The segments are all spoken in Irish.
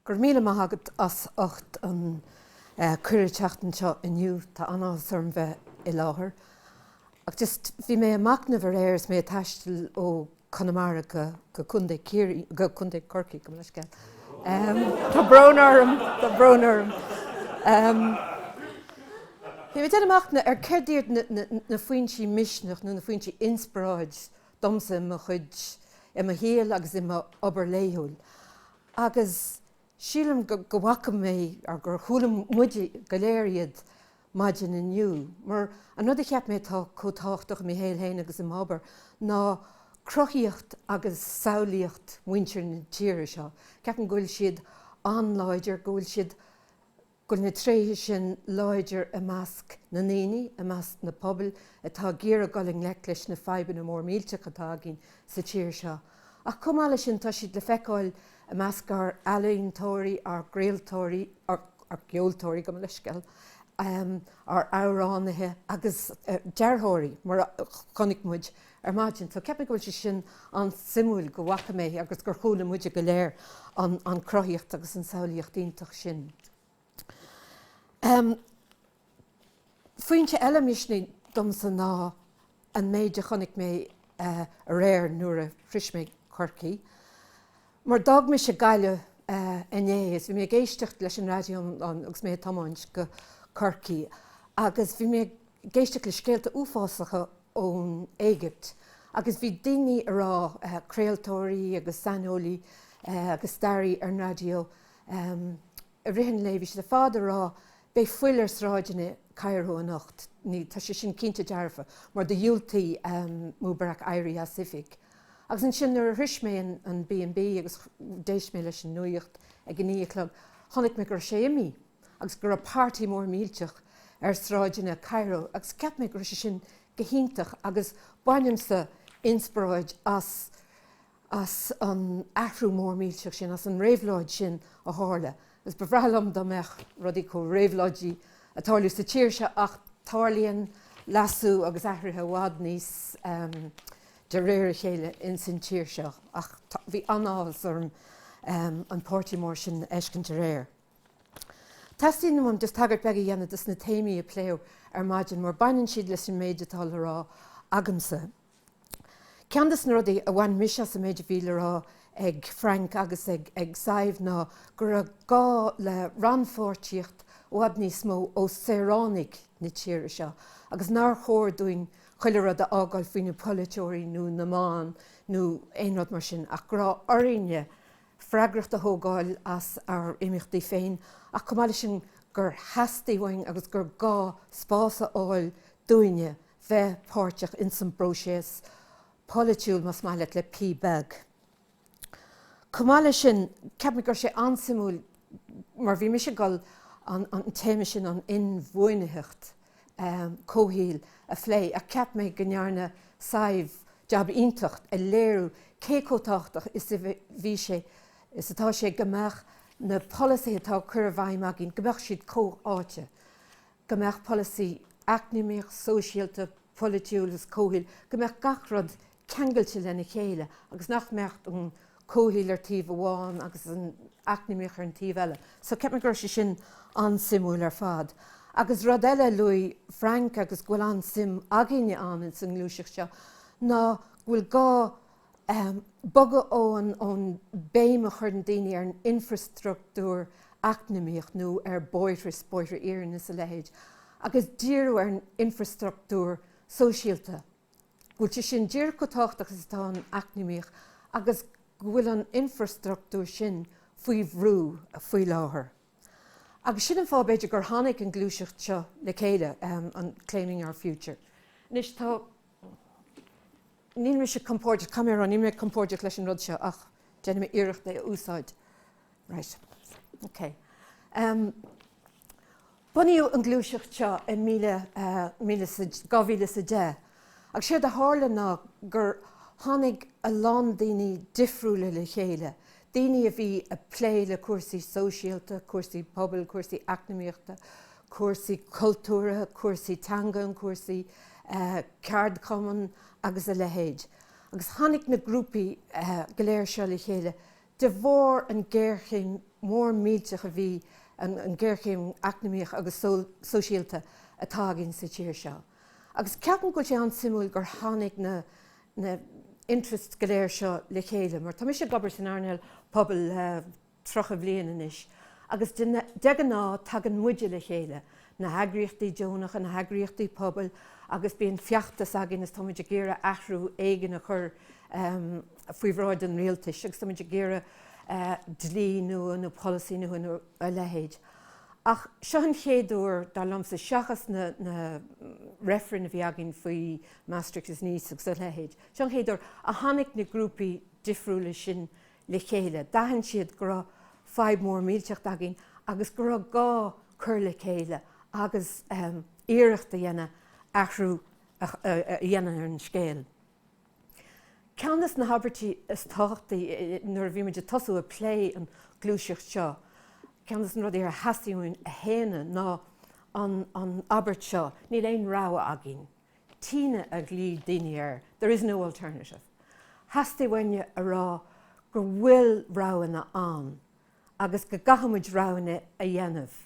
Go raibh míle maith agat as ucht an cuireadh teacht anseo inniú. Tá an-áthas orm bheith i láthair. Ach just, bhí mé ag machnamh aréir is mé ag taisteal ó Conamara go Contae Corcaigh, gabh mo leithscéal, Tá brón orm. Bhí mé ag déanamh machnamh ar céard iad na foinsí misneach nó na foinsí inspioráid domsa i mo chuid, i mo shaol agus i m'obair laethúil agus sílim go bhfaca mé agus gur chuala muid go léir iad maidin inniu, mar an rud a cheap mé atá chomh tábhachtach i mo shaol féin agus i m'obair ná cruthaíocht agus samhlaíocht muintir na tíre seo. Ceapaim go bhfuil siad an-láidir, go bhfuil siad, go bhfuil na tréithe sin láidir i measc na ndaoine, i measc na pobail atá ag iarraidh dul i ngleic leis na fadhbanna mór millteacha atá againn sa tír seo. Ach chomh maith leis sin, tá siad le feiceáil, I measc ár n-ealaíontóirí, ár gcraoltóirí, ár gceoltóirí, gabh mo leithscéal, ár amhránaithe agus dearthóirí, mar a chonaic muid ar maidin. So ceapaim go bhfuil sé sin an-suimiúil go bhfaca mé agus gur chuala muide go léir an cruthaíocht agus an samhlaíocht iontach sin. Foinse eile misnigh domsa ná an méid a chonaic mé aréir nuair a shrois mé Corcaigh, mar d'fhág mise Gaillimh inné is bhí mé ag éisteacht leis an raidió agus mé ag tiomáint go Corcaigh agus bhí mé ag éisteacht le scéalta uafásacha ón Éigipt agus bhí daoine ag rá, craoltóirí agus saineolaí agus staraí ar an raidió, ar Raidió na Life, bhí siad ar fad ag rá, Beidh fuil ar sráideanna Cairo anocht. Ní, tá sé sin cinnte dearfa, mar do dhiúltaigh Mubarak éirí as oifig. Agus ansin, nuair a shrois mé an B&B agus d'éist mé leis an nuacht ag a naoi a chlog, chonaic mé go raibh sé imí, agus go raibh party mór millteach ar sráideanna Cairo, agus cheap mé go raibh sé sin go hiontach, agus bhain mise inspioráid as. as an athrú mór millteach sin, as an réabhlóid sin a tharla, agus ba bhreá liom dá mbeadh rudaí chomh réabhlóidí ag tarlú sa tír seo ach tarlaíonn leasú agus athruithe i bhfad níos de réir a chéile ins an tír seo ach bhí an-áthas orm an páirtí mór sin a fheiscint aréir. Teastaíonn uaim just tagairt beag a dhéanamh dos na téamaí a pléadh ar maidin mar baineann siad leis an méid atá le rá agamsa. Ceann de na rudaí a bhain mise as an méid a bhí le rá ag Frank agus ag Sadhbh ná go raibh gá le rannpháirtíocht i bhfad níos mó ó saoránaigh na tíre seo agus nár chóir dúinn chuile rud a fhágáil faoi na polaiteoirí nó na meáin nó aon rud mar sin ach go raibh orainne freagracht a thógáil as ár n-imeachtaí féin ach chomh maith leis sin gur theastaigh uainn agus gur gá spás a fháil dúinne a bheith páirteach ins an bpróiseas polaitiúil más maith leat le P. Beag. Chomh maith leis sin, ceapaim go raibh sé an-suimiúil mar bhí mise ag gabháil an téama sin, an inbhuanaitheacht, comhshaoil, a phlé ach cheap mé go ndearna Sadhbh jab iontach ag léiriú cé chomh tábhachtach is a bhí sé, is atá sé go mbeadh na polasaithe atá ag cur i bhfeidhm againn, go mbeadh siad comhtháite. go mbeadh polasaí eacnamaíoch, sóisialta, polaitiúil is comhshaoil, go mbeadh gach rud ceangailte lena chéile agus nach mbeadh an comhshaol ar taobh amháin agus an eacnamaíoch ar an taobh eile. So ceapaim go raibh sé sin an-suimiúil ar fad. Agus rud eile a luaigh Frank agus go bhfuil an-suim againne ann insan ngluaiseacht seo ná go bhfuil gá, bogadh ón ón mbéim a chuireann daoine ar an infreastruchtúr eacnamaíoch nó ar bóithre is bóithre iarainn is a leithéid agus díriú ar an infreastruchtúr sóisialta, go bhfuil sé sin díreach chomh tábhachtach is atá an eacnamaíoch agus go bhfuil an infreastruchtúr sin faoi bhrú faoi láthair. Agus sin an fáth, b'fhéidir, gur tháinig an gluaiseacht seo le chéile, an Claiming Our Future. Anois, tá. níl mise compordach, caithfidh mé a rá, níl mé compordach leis an rud seo ach déanfaidh mé iarracht é a úsáid. Right. OK. Bunaíodh an gluaiseacht seo i míle, dhá mhíle is a deich. Agus séard a tharla ná gur tháinig a lán daoine difriúla le chéile, daoine a bhí ag plé le cúrsaí sóisialta, cúrsaí pobail, cúrsaí eacnamaíochta, cúrsaí cultúrtha, cúrsaí teangan, cúrsaí ceardchumann agus a leithéid. Agus tháinig na grúpaí go léir seo le chéile de bharr an géarchéim mór millteach a bhí, an géarchéim eacnamaíoch agus sóisialta atá againn sa tír seo. Agus ceapaim go bhfuil sé an-suimiúil gur tháinig na, na interests go léir seo le chéile, mar tá mise ag obair san earnáil pobail le tríocha bliain anois agus de ghnáth tagann muide le chéile, na heagraíochtaí deonacha, na heagraíochtaí pobail agus bíonn feachtas againn is táimid ag iarraidh athrú éigin a chur faoi bhráid an rialtais agus táimid ag iarraidh dlí nua nó polasaí nua nó a leithéid. Ach seo an chéad uair, dar liomsa, seachas na reifrinn a bhí againn faoi Maastricht is Nice agus a leithéid. Seo an chéad uair a tháinig na grúpaí difriúla sin le chéile. D'aithin siad go raibh fadhb mhór millteach againn agus go raibh gá cur le chéile agus iarracht a dhéanamh athrú a dhéanamh ar an scéal. Ceann des na habairtí is tábhachtaí nuair a bhí muid ag tosú ag plé an ghluaiseacht seo, ceann des na rudaí ar theastaigh uainn a shéanadh ná an abairt seo, níl aon rogha againn. TINA a ghlaoigh daoine air there is no alternative theastaigh uainn a rá go bhfuil roghanna ann agus go gcaithfidh muid roghanna a dhéanamh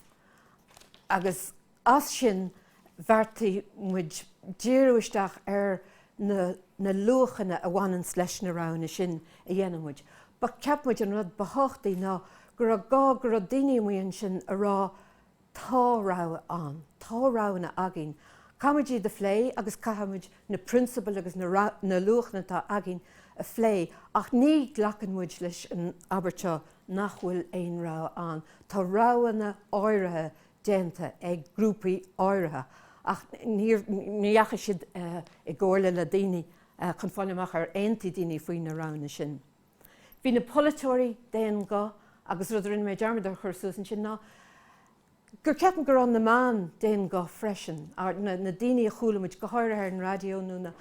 agus as sin bheartaigh muid díriú isteach ar na na luachanna a bhaineanns leis na roghanna sin a dhéanann muid but cheap muid an rud ba thábhachtaí ná go raibh gá go raibh daoine amuigh ansin a rá Tá rogha ann. Tá roghanna againn. Caithfimid iad a phlé agus caithfimid na prionsabail agus na luachanna atá againn a phlé ach ní ghlacann muid leis an abairt seo nach bhfuil aon rogha ann. Tá roghanna áirithe déanta ag grúpaí áirithe ach ní dheachaigh siad i gcomhairle le daoine chun fáil amach ar aontaigh daoine faoi na roghanna sin. Bhí na polaiteoirí d'aon ghuth agus rud a rinne mé dearmad a chur suas ansin ná go gceapaim go raibh na meáin d'aon ghuth freisin, na daoine a chuala muid, go háirithe ar an raidió nó na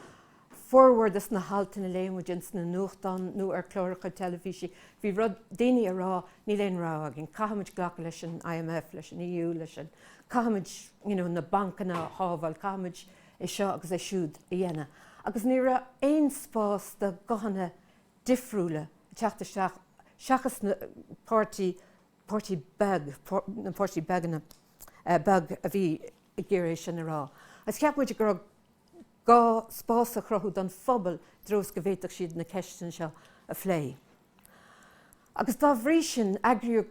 formhór dos na haltanna a léigh muid ins na nuachtáin nó ar chláracha teilifíse, bhí rud, daoine a rá níl aon rogha againn, caithfimid glacadh leis an IMF, leis an EU, leis an, caithfimid you know na bancanna a shábháil, caithfimid é seo agus é siúd a dhéanamh. Agus ní raibh aon spás do ghuthanna difriúla ag teacht isteach seachas na páirtí, páirtí beag, na páirtí beaganna, beag a bhí ag iarraidh é sin a rá. Agus cheap muid go raibh gá spás a chruthú don phobal i dtreo is go bhféadfadh siad na ceisteanna seo a phlé. Agus dá bhrí sin, eagraíodh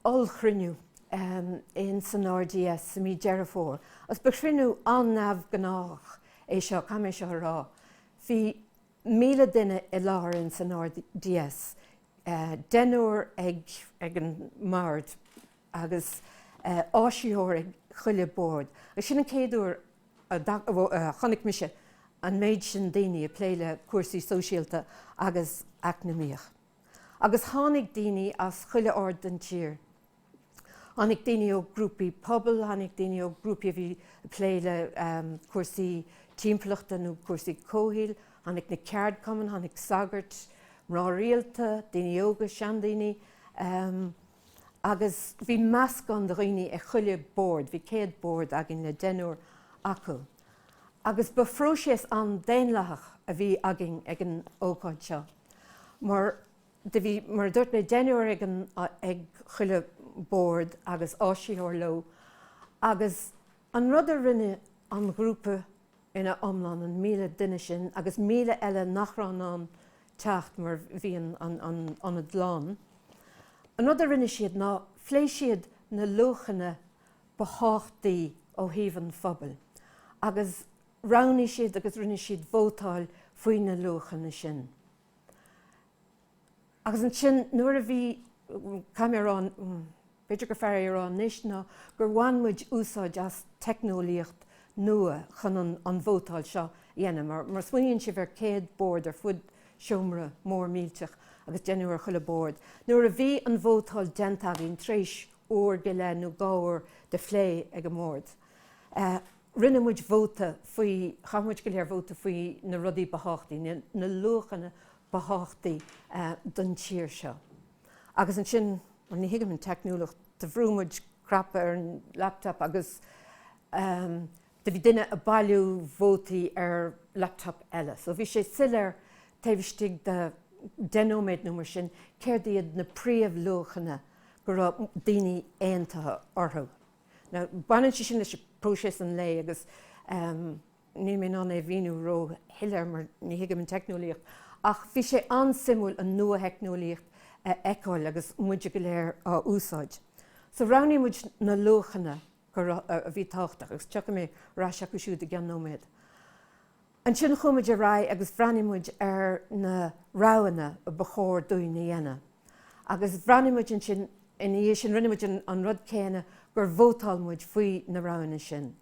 ollchruinniú ins an RDS i mí Deireadh Fómhair. Agus ba chruinniú an-neamhghnách é seo, caithfidh mé seo a rá. Bhí 1,000 duine i láthair ins an RDS, deichniúr ag an mbord agus áisitheoir ag chuile bord. Agus sin an chéad uair a chonaic mise an méid sin daoine ag plé le cúrsaí sóisialta agus eacnamaíochta. Agus tháinig daoine as chuile aird den tír. Tháinig daoine ó ghrúpaí pobail, tháinig daoine ó ghrúpaí a bhí ag plé le cúrsaí timpeallachta nó cúrsaí comhshaoil, tháinig na ceardchumainn, tháinig sagairt, mná rialta, daoine óga, seandaoine, agus bhí meascán de dhaoine ag chuile bord, bhí 100 bord againn le deichniúr acu. agus ba phróiseas an-daonlathach a bhí againn ag an ócáid seo mar do bhí, mar a dúirt mé, deichniúr ag an, ag chuile bhord agus áisitheoir leo agus an rud a rinne an ghrúpa ina iomlán, an míle duine sin agus míle eile nach raibh in ann teacht mar bhí an, an, an ionad lán, an rud a rinne siad ná phléigh siad na luachanna ba thábhachtaí ó thaobh an phobail agus roghnaigh siad agus rinne siad vótáil faoi na luachanna sin. Agus ansin nuair a bhí caithfidh mé a rá, b'fhéidir gur fearr é a rá anois ná gur bhain muid úsáid as teicneolaíocht nua chun an vótáil seo a dhéanamh. Má smaoiníonn sibh ar 100 bord ar fud seomra mór millteach agus deichniúr ag chuile bhord, nuair a bhí an vótáil déanta againn tar éis uair go leith nó dhá uair de phlé ag an mbord. Rinne muid vóta faoi, chaith muid go léir vóta faoi na rudaí ba thábhachtaí, na luachanna ba thábhachtaí don tír seo. Agus ansin, bhuel, ní thuigim an teicneolaíocht, do bhrú muid cnap ar an laptop agus do bhí duine ag bailiú vótaí ar laptop eile. So bhí sé soiléir taobh istigh de 10 nóiméad nó mar sin céard iad na príomhluachanna go raibh daoine aontaithe orthu. Now baineann sé sin leis próiseas an lae agus níl mé in ann é a mhíniú ró-shoiléir mar ní thuigim an teicneolaíocht ach bhí sé an-suimiúil an nuatheicneolaíocht a fheiceáil agus muide go léir á úsáid. So roghnaigh muid na luachanna go raibh, a bhí tábhachtach, agus tiocfaidh mé ar ais acu siúd i gceann nóiméad. Ansin chuaigh muid ar aghaidh agus bhreathnaigh muid ar na roghanna ba chóir dúinn a dhéanamh. Agus bhreathnaigh muid ansin, ina dhiaidh sin rinne muid an rud céanna gur vótáil muid faoi na roghanna sin.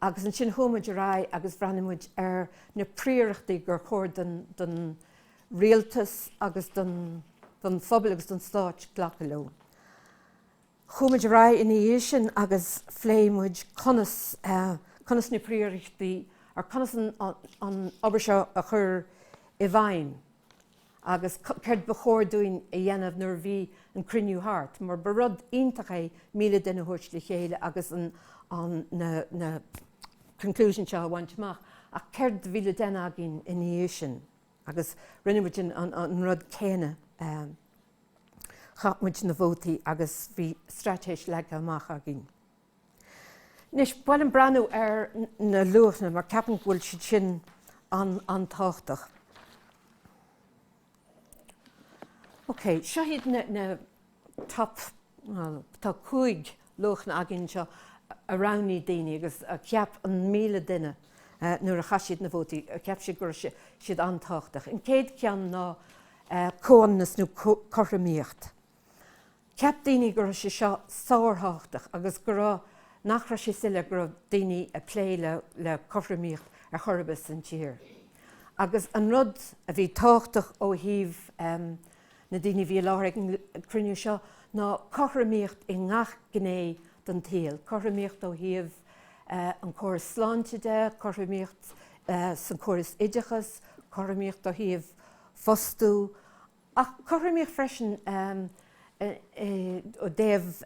Agus ansin chuaigh muid ar aghaidh agus bhreathnaigh muid ar na príorachtaí gur chóir don rialtas agus don phobal agus don stát glacadh leo. Chuaigh muid ar aghaidh ina dhiaidh sin agus phléigh muid conas, conas na príorachtaí, or conas an obair seo a chur i bhfeidhm agus céard ba chóir dúinn a dhéanamh nuair a bhí an cruinniú thart, mar ba rud iontach é 1,000 duine a thabhairt le chéile agus an, an, na, na conclúidí seo a bhaint amach. Ach céard a bhí le déanamh againn ina dhiaidh sin agus rinne muid an, an, an rud céanna. Chaith muid na vótaí agus bhí straitéis leagtha amach againn. Anois, b'fhearr liom breathnú ar na luachanna, mar ceapaim go bhfuil siad sin an-tábhachtach. OK, seo iad na top, bhuel, tá cúig luachanna againn seo a roghnaigh daoine agus cheap an míle duine nuair a chaith siad na vótaí cheap sé go raibh siad an-tábhachtach. An chéad cheann ná comhionannas nó cothromaíocht. Cheap daoine go raibh sé seo sárthábhachtach agus go raibh nach raibh sé soiléir go raibh daoine ag plé le cothromaíocht ar chor ar bith san tír. Agus an rud a bhí tábhachtach ó thaobh. Na daoine a bhí i láthair ag an gcruinniú seo ná cothromaíocht i ngach gné den tsaol, cothromaíocht ó thaobh an córas sláinte de, cothromaíocht sa chóras oideachas, cothromaíocht ó thaobh fostú, ach cothromaíocht freisin i dtaobh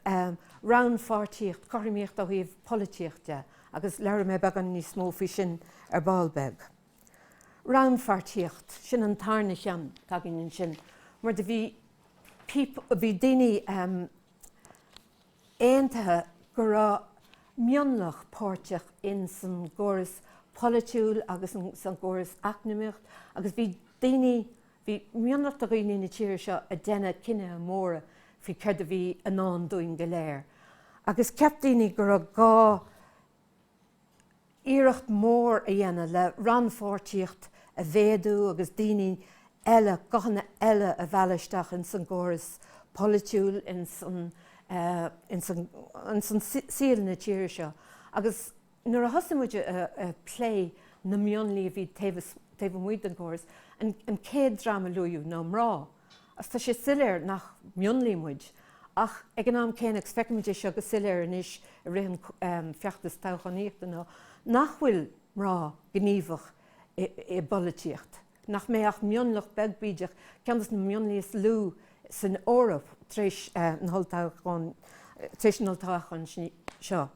rannpháirtíocht, cothromaíocht ó thaobh polaitíocht de, agus labhróidh mé beagán níos mó faoi sin ar ball beag. Rannpháirtíocht, sin an tarna cheann. Tagaim ansin mar do bhí daoine aontaithe go raibh mionlach páirteach in san gcóras polaitiúil agus san gcóras eacnamaíocht agus bhí daoine, bhí mionlach de dhaoine na tíre seo ag déanamh cinnithe móra faoi céard a bhí i ndán dúinn go léir agus cheap daoine go raibh gá iarracht mhór a dhéanamh le rannpháirtíocht a mhéadú agus daoine eile, guthanna eile a mhealladh isteach ins an gcóras polaitiúil, ins an saol na tíre seo. Agus nuair a thosaigh muid ag plé na mionlaigh a bhí taobh amuigh den chóras, an chéad dream a luaíodh ná mná. Tá sé soiléir nach mionlaigh muid, ach ag an am céanna, agus feicimid é seo go soiléir anois i rith an feachtais toghchánaíochta, ná nach bhfuil mná gníomhach i bpolaitíocht, nach mbeidh ach mionlach beag bídeach, ceann de na mionlaigh is lú san Eoraip, tar éis na n-olltoghchán seo.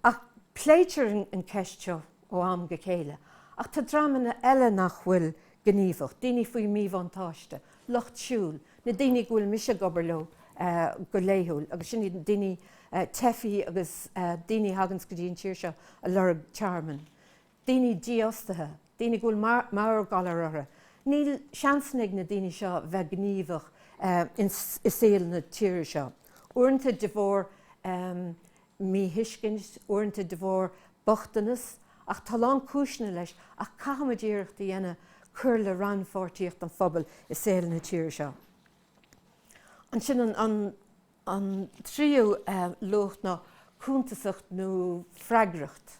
ach pléitear an cheist seo ó am go chéile, ach tá dreamanna eile nach bhfuil gníomhach, daoine faoi mhíbhuntáiste, lucht siúil, na daoine go bhfuil mise ag obair leo go laethúil agus sin iad daoine teifí agus daoine a thaganns go dtí an tír seo ag lorg tearmainn. daoine dífhostaithe, daoine go bhfuil meabhairghalair orthu, níl seansanna ag na daoine seo bheith gníomhach i saol na tíre seo, uaireanta de bharr míthuiscint, uaireanta de bharr bochtanas, ach tá a lán cúiseanna leis ach caithfimid iarracht a dhéanamh cur le rannpháirtíocht an phobail i saol na tíre seo. Ansin an. An tríú luach ná cuntasacht nó freagracht.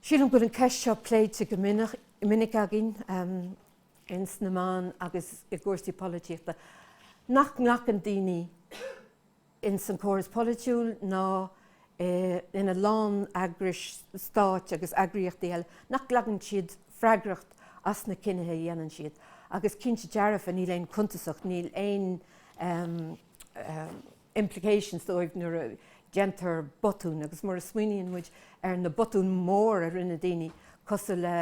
Sílim go bhfuil an ceist seo pléite go minic againn ins na meáin agus i gcúrsaí polaitíochta. Nach nglacann daoine ins an córas polaitiúil ná é ina lán eagrais stáit agus eagraíochtaí eile nach nglacann siad freagracht as na cinnithe a dhéanann siad agus cinnte dearfa níl aon cuntasacht, níl aon implications dóibh nuair a déantar botúin agus mar a smaoiníonn muid ar na botúin mór a rinne daoine cosúil le,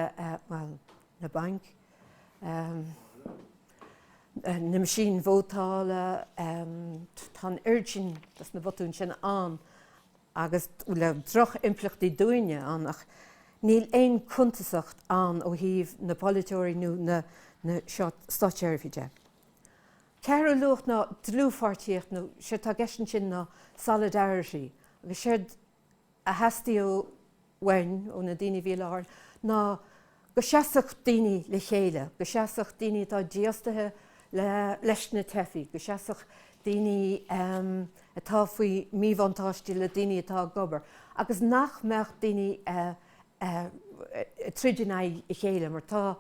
bhuel, na bainc, na meaisín vótála, tá an oiread sin dos na botúin sin ann agus bhfuil droch-impleachtaí dúinne ann ach níl aon cuntasacht ann ó thaobh na bpolaiteoirí nó na státseirbhíse de. Ceathrú luach ná dlúthpháirtíocht nó séard tá i gceist ansin ná solidarity agus séard a theastaigh uainn ó na daoine a bhí i láthair ná go seasfadh daoine le chéile, go seasfadh daoine atá dífhostaithe leis na teifigh, go seasfadh daoine atá faoi mhíbhuntáiste le daoine atá ag obair, agus nach mbeadh daoine ag troid in aghaidh a chéile, mar tá.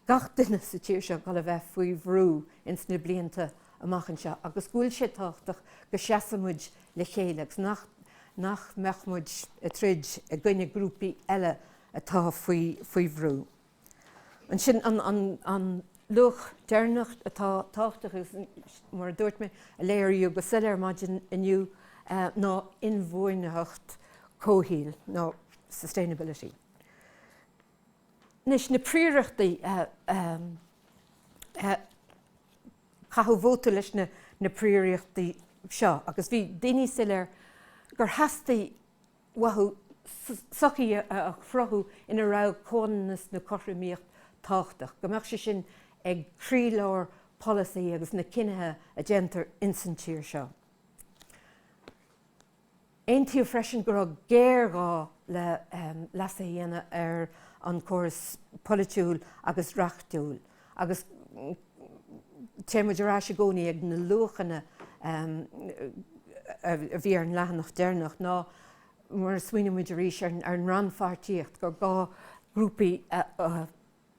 gach duine sa tír seo ag goil a bheith faoi bhrú ins na blianta amach anseo agus go bhfuil sé tábhachtach go seasfaidh muid le chéile agus nach nach mbeadh muid ag troid i gcoinne grúpaí eile atá faoi faoi bhrú. Ansin an an an luach deireanach atá tábhachtach agus mar a dúirt mé, a léiríodh go soiléir maidin inniu ná inbhuanaitheacht comhshaoil nó sustainability. Anois, na príoraíochtaí, caitheadh vóta leis na príoraíochtaí seo agus bhí daoine soiléir gur theastaigh uathu sochaí a chruthú ina raibh comhionannas nó cothromaíocht tábhachtach, go mbeadh sé sin ag croílár polasaí agus na cinnithe a déantar insan tír seo. Aontaíodh freisin go raibh géarghá le leasú a dhéanamh ar an gcóras polaitiúil agus reachtúil agus téann muid ar ais i gcónaí ag na luachanna a bhí ar an leathanach deireanach ná mar a smaoinímid arís ar an rannpháirtíocht, gur gá grúpaí a.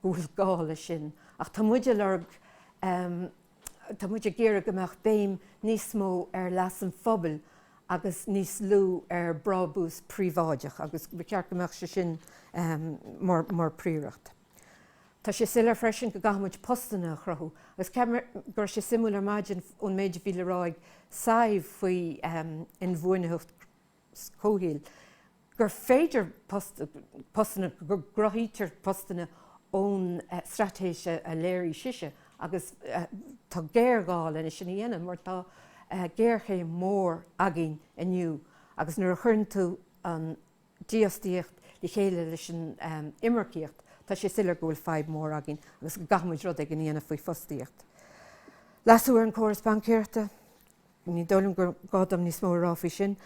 go bhfuil gá leis sin ach tá muid ag lorg, tá muid ag iarraidh go mbeadh béim níos mó ar leas an phobail agus níos lú ar brábús príobháideach agus ba cheart go mbeadh sé sin mar phríoracht. Tá sé soiléir freisin go gcaithfidh muid postanna a chruthú agus ceapaim go raibh sé suimiúil ar maidin ón méid a bhí le rá ag Sadhbh faoi inbhuanaitheacht, comhshaoil gur féidir postanna, go gcruthaítear postanna ón straitéis a léirigh sise agus tá géarghá lena sin a dhéanamh mar tá géarchéim mhór againn inniu agus nuair a chuireann tú an dífhostaíocht le chéile leis an imirceacht tá sé soiléir go bhfuil fadhb mhór againn agus go gcaithfimid rud éigin a dhéanamh faoi fostaíocht. Leasú ar an gcóras baincéireachta. Ní dóigh liom gur gá dom níos mó a rá faoi sin.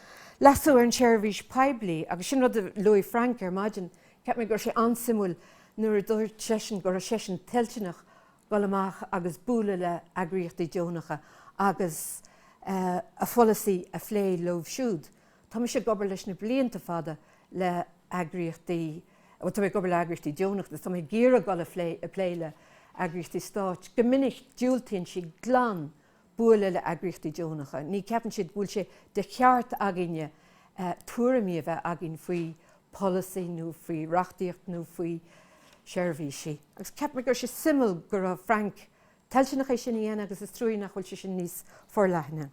Leasú ar an seirbhís poiblí, agus sin rud a luaigh Frank ar maidin, cheap mé go raibh sé an-suimiúil nuair a dúirt seisean go raibh seisean toilteanach dul amach agus bualadh le heagraíochtaí deonacha agus a pholasaí a phlé leo siúd. Tá mise ag obair leis na blianta fada le heagraíochtaí, bhuel tá mé ag obair le heagraíochtaí deonacha agus tá mé ag iarraidh dul a phlé le heagraíochtaí stáit. Go minic diúltaíonn siad glan bualadh le heagraíochtaí deonacha, ní ceapann siad go bhfuil sé de cheart againne tuairimí a bheith againn faoi pholasaí nó faoi reachtaíocht nó faoi sheirbhísí. Agus cheap mé go raibh sé suimiúil go raibh Frank toilteanach é sin a dhéanamh agus is trua nach bhfuil sé sin níos forleithne.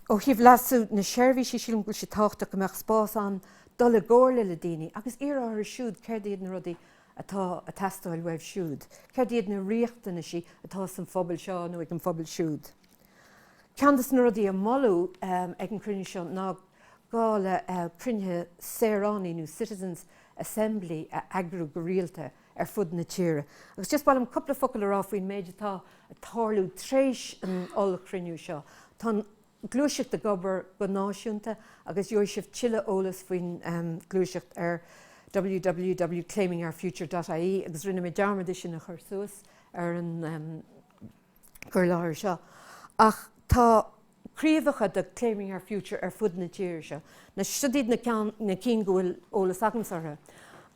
Ó thaobh leasú na seirbhísí sílim go bhfuil sé tábhachtach go mbeadh spás ann dul i gcomhairle le daoine agus iarraidh orthu siúd céard iad na rudaí atá a teastáil uaibh siúd, céard iad na riachtanaisí atá san phobal seo nó ag an phobal siúd. Ceann des na rudaí a moladh ag an cruinniú seo ná gá le cruinnithe saoránaí nó citizens' assembly a eagrú go rialta, ar fud na tíre. Agus just ba mhaith liom cúpla focal a rá faoin méid atá ag tarlú tréis an ollchruinniú seo. Tá an gluaiseacht ag obair go náisiúnta agus gheobhaidh sibh tuilleadh eolas faoin ghluaiseacht ar www.claimingourfuture.ie agus rinne mé dearmad é sin a chur suas ar an gcur i láthair seo. Ach tá. craobhacha de Claiming Our Future ar fud na tíre seo. Siod iad na cinn go bhfuil eolas agamsa orthu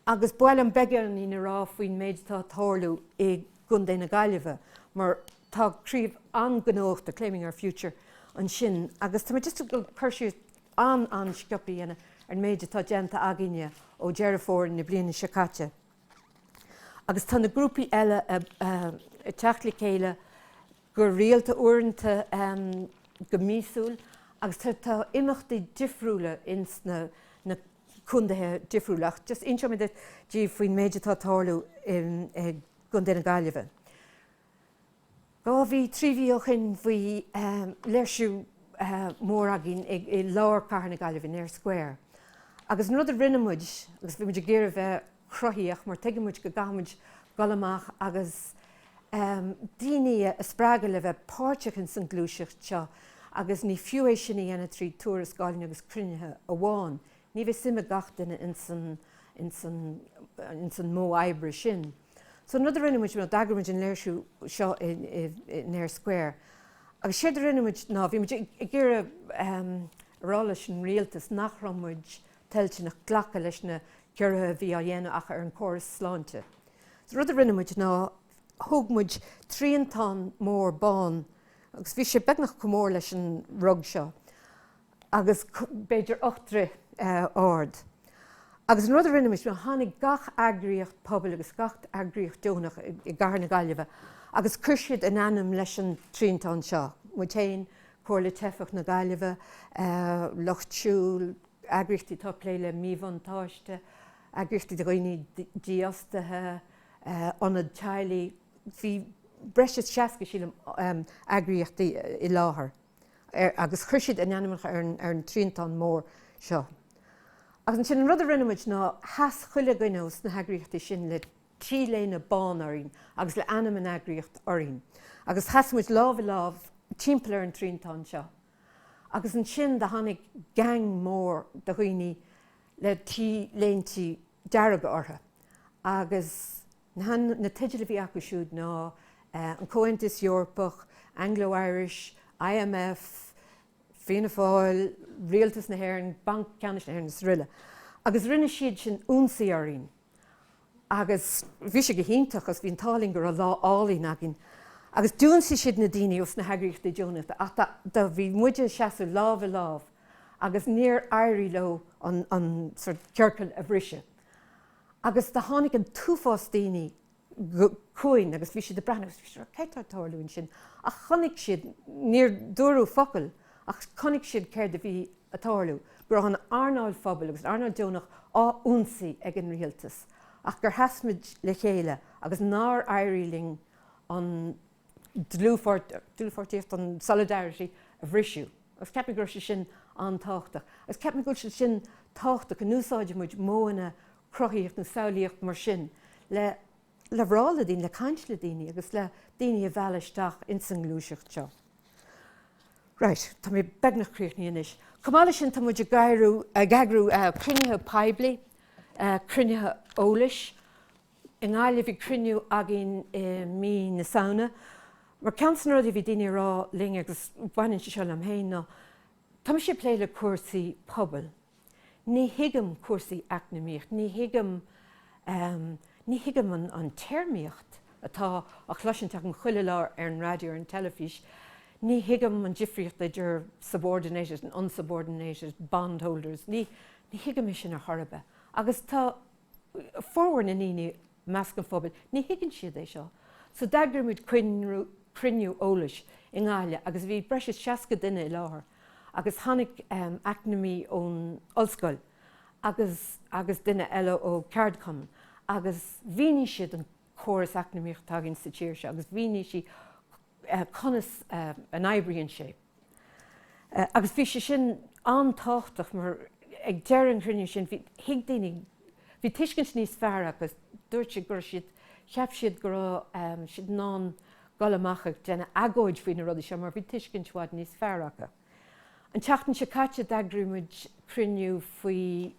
agus ba mhaith liom beagáinín a rá faoin méid atá ag tarlú i gContae na Gaillimhe mar tá craobh an-ghnóthach de Claiming Our Future ansin agus tá mé just ag dul cur síos an-an-sciopaí a dhéanamh ar an méid atá déanta againne ó Dheireadh Fómhair na bliana seo caite agus tá na grúpaí eile ag teacht le chéile go rialta, uaireanta go míosúil, agus tá imeachtaí difriúla ins na condaetha difriúla ach just inseoidh mé díbh faoin méid atá ag tarlú i gCondae na Gaillimhe. Dhá mhí, trí mhí ó shin bhí léirsiú mór againn i lár cathair na Gaillimhe, in Eyre Square, agus an rud a rinne muid, agus bhí muid ag iarraidh bheith, cruthaíoch, mar tuigeann muid go gcaithfidh muid dul amach agus daoine a spreagadh le bheith páirteach ins an ghluaiseacht seo agus ní fiú é sin a dhéanamh trí tuarascálacha agus cruinnithe amháin. Ní bheidh suim ag gach duine ins an modh oibre sin. So an rud a rinne muid, d'eagraigh muid an léirsiú seo in Eyre Square agus séard a rinne muid ná bhí muid ag iarraidh a rá leis an rialtas nach raibh muid toilteanach glacadh leis na ciorruithe a bhí á dhéanamh acu ar an gcóras sláinte. So rud a rinne muid ná thóg muid triantán mór bán agus bhí sé beagnach chomh mór leis an rug seo agus b'fhéidir ocht dtroith ard. Agus an rud a rinne muid ná tháinig gach eagraíocht pobail agus gach eagraíocht deonach i gcathair na Gaillimhe agus chuir siad a n-ainm leis an triantán seo, muid féin, Comhairle Teifeach na Gaillimhe, Lucht Siúil, eagraíochtaí atá ag plé le míbhuntáiste, eagraíochtaí do dhaoine dífhostaithe, ionaid teaghlaigh. Bhí breis is seasca, sílim, eagraíochtaí i láthair agus chuir siad a n-ainmneacha ar an triantán mór seo. Agus ansin, an rud a rinne muid ná sheas chuile dhuine ó sna heagraíochtaí sin le T-léine bán orainn agus le ainm an eagraíocht orainn. Agus sheas muid lámh i lámh timpeall ar an triantán seo. agus ansin do tháinig gang mór de dhaoine le T-léinte dearga orthu agus na teidil a bhí acu siúd ná An Comhaontas Eorpach, Anglo Irish, IMF, Fianna Fáil, Rialtas na hÉireann, Banc Ceannais na hÉireann is rl. Agus rinne siad sin ionsaí orainn. Agus bhí sé go hiontach agus bhí an t-ádh linn go raibh lá álainn againn. Agus d'ionsaigh siad na daoine ó sna heagraíochtaí deonacha ach do, do, bhí muide ag seasamh lámh i lámh agus níor éirigh leo an, an, sórt, ciorcal a bhriseadh. Agus do tháinig an t-uafás daoine chugainn agus bhí siad ag breathnú agus bhí siad ag rá céard tá ag tarlú ansin ach chonaic siad, níor dúradh focal ach chonaic siad céard a bhí ag tarlú, go raibh an earnáil phobail agus an earnáil deonach á ionsaí ag an rialtas ach gur sheas muid le chéile agus nár éirigh linn an dlúthpháirtíocht, an solidarity a bhriseadh. Agus ceapaim go raibh sé sin an-tábhachtach. Agus ceapaim go bhfuil sé sin tábhachtach, go n-úsáideann muid modhanna cruthaíocht nó samhlaíocht mar sin le plé le daoine, le caint le daoine agus le daoine a mhealladh isteach ins an ngluaiseacht seo. Right, tá mé beagnach críochnaithe anois. Chomh maith le sin, tá muid ag eagrú cruinnithe poiblí, cruinnithe eolais, i nGaillimh bhí cruinniú againn i mí na Samhna mar ceann de na rud a bhí daoine ag rá linn agus baineann sé seo liom féin ná tá mise ag plé le cúrsaí pobail, ní thuigim cúrsaí eacnamaíocht, ní thuigim an téarmaíocht atá á chloisiúint achan chuile lá ar an raidió, ar an teilifís, ní thuigim an difríocht idir subordinated and unsubordinated bondholders, ní thuigim é sin ar chor ar bith agus tá. formhór na ndaoine i measc an phobail, ní thuigeann siad é seo. So d'eagraigh muid cruinniú eolais i nGaillimh agus bhí breis is seasca duine i láthair agus tháinig eacnamaí ón ollscoil agus duine eile ó ceardchumann agus mhínigh siad an córas eacnamaíocht atá againn sa tír seo agus mhínigh siad conas a oibríonn sé. Agus bhí sé sin an-tábhachtach mar ag deireadh an chruinniú sin thuig daoine, bhí tuiscint níos fearr acu, dúirt siad go raibh siad, cheap siad go raibh siad in ann dul amach ag déanamh agóid faoi na rudaí seo mar bhí tuiscint i bhfad níos fearr acu. An tseachtain seo caite d'eagraigh muid cruinniú faoi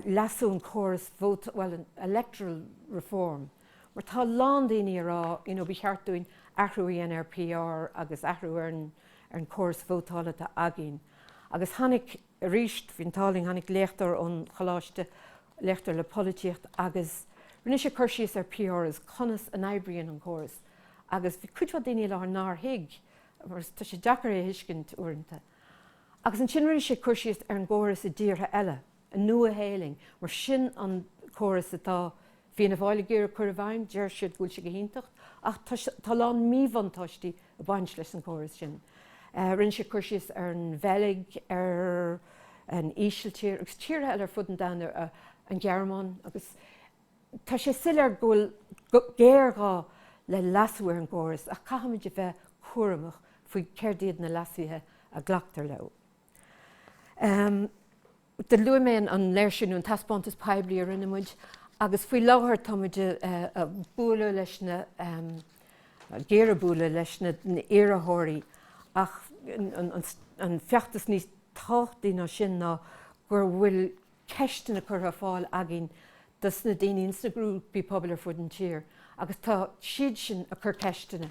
leasú an córas vótála, bhuel an electoral reform, mar tá a lán daoine ag rá you know ba cheart dúinn athrú a dhéanamh ar PR agus athrú ar an córas vótála atá againn agus tháinig arís bhí an t-ádh linn tháinig léachtóir ón choláiste léachtóir le polaitíocht agus rinne sé cur síos ar PR is conas a oibríonn an córas agus bhí cuid mhaith daoine i láthair nár thuig mar tá sé deacair é a thuiscint uaireanta agus ansin rinne sé cur síos ar an gcóras i dtíortha eile agus. an Nua-Shéalainn. Mar sin an córas atá Fianna Fáil ag iarraidh cur i bhfeidhm, deir siad go bhfuil sé go hiontach ach tá a lán míbhuntáistí ag baint leis an chóras sin. Rinne sé cur síos ar an Bheilg, ar an Ísiltír agus tíortha eile ar fud an domhain, ar an Ghearmáin agus tá sé soiléir go bhfuil géarghá le leasú ar an gcóras ach caithfimid a bheith cúramach faoi céard iad na leasuithe a ghlactar leo. Am, Do luaigh mé an léirsiú nó an taispeántas poiblí a rinne muid agus faoi láthair tá muid ag bualadh leis na, ag iarraidh bualadh leis na hiarrthóirí ach an feachtas níos tábhachtaí ná sin ná gur bhfuil ceisteanna curtha ar fáil againn dos na daoine ins na grúpaí pobail ar fud an tír agus tá siad sin ag cur ceisteanna